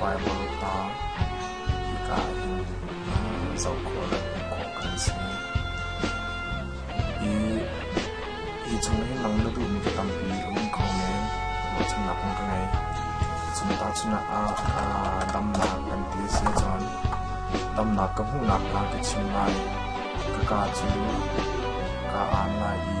Baibal hna hika ah zoh khawh kan si. Hi chung in nang na duhmi cu tampi a um kho men. Ruahchannak na ka ngei. Chung tahchunak ah damnak kan ti a si ahcun damnak ka hmuhnak kha ka chim lai. Ka kaa cu kaa aan lai i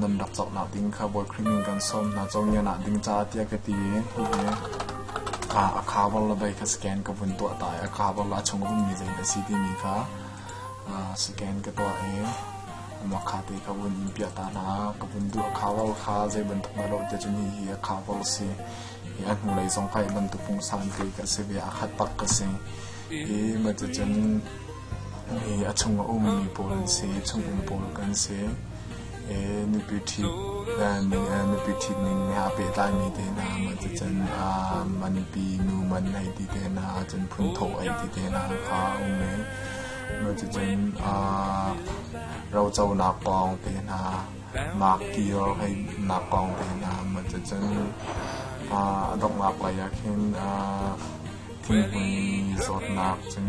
nan rak cawknak ding kha bawi Khrih min kan sawm hna cawngianak ding caah tiah ka ti i hihi a khabar la bei kha scan ka vun tuah ta i a khabar la chung rummi zei a si timi kha scan ka tuah i amah kha te ka vun in piah ta hna ka vun duh khabar kha zei bantuk na lo te cun hihi a khabar si i a hnulei zong kha i bantuk pungsan te ka si ve a khat tak ka si i ma cun a chung a ummi pawl an si, chung um pawl kan si. Nupi ṭhit ning he aa pehtlaimi te hna, matucan man pi nu man ei ti te hna, cun phunthawh ei ti te hna kha a um i matucun roconak pawng te hna, maak kio heinak pawng te hna, matucun a donghnak lei ah khin thinghmui zawtnak cun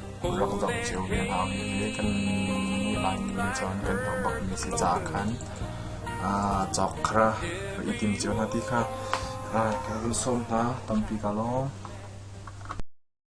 rak zoh cio ve hau i kan nih Laimi nih cun kan hmuh bakmi si caah khan cawk kha i tim cio hna ti kha kan sawm hna tampi ka lawm.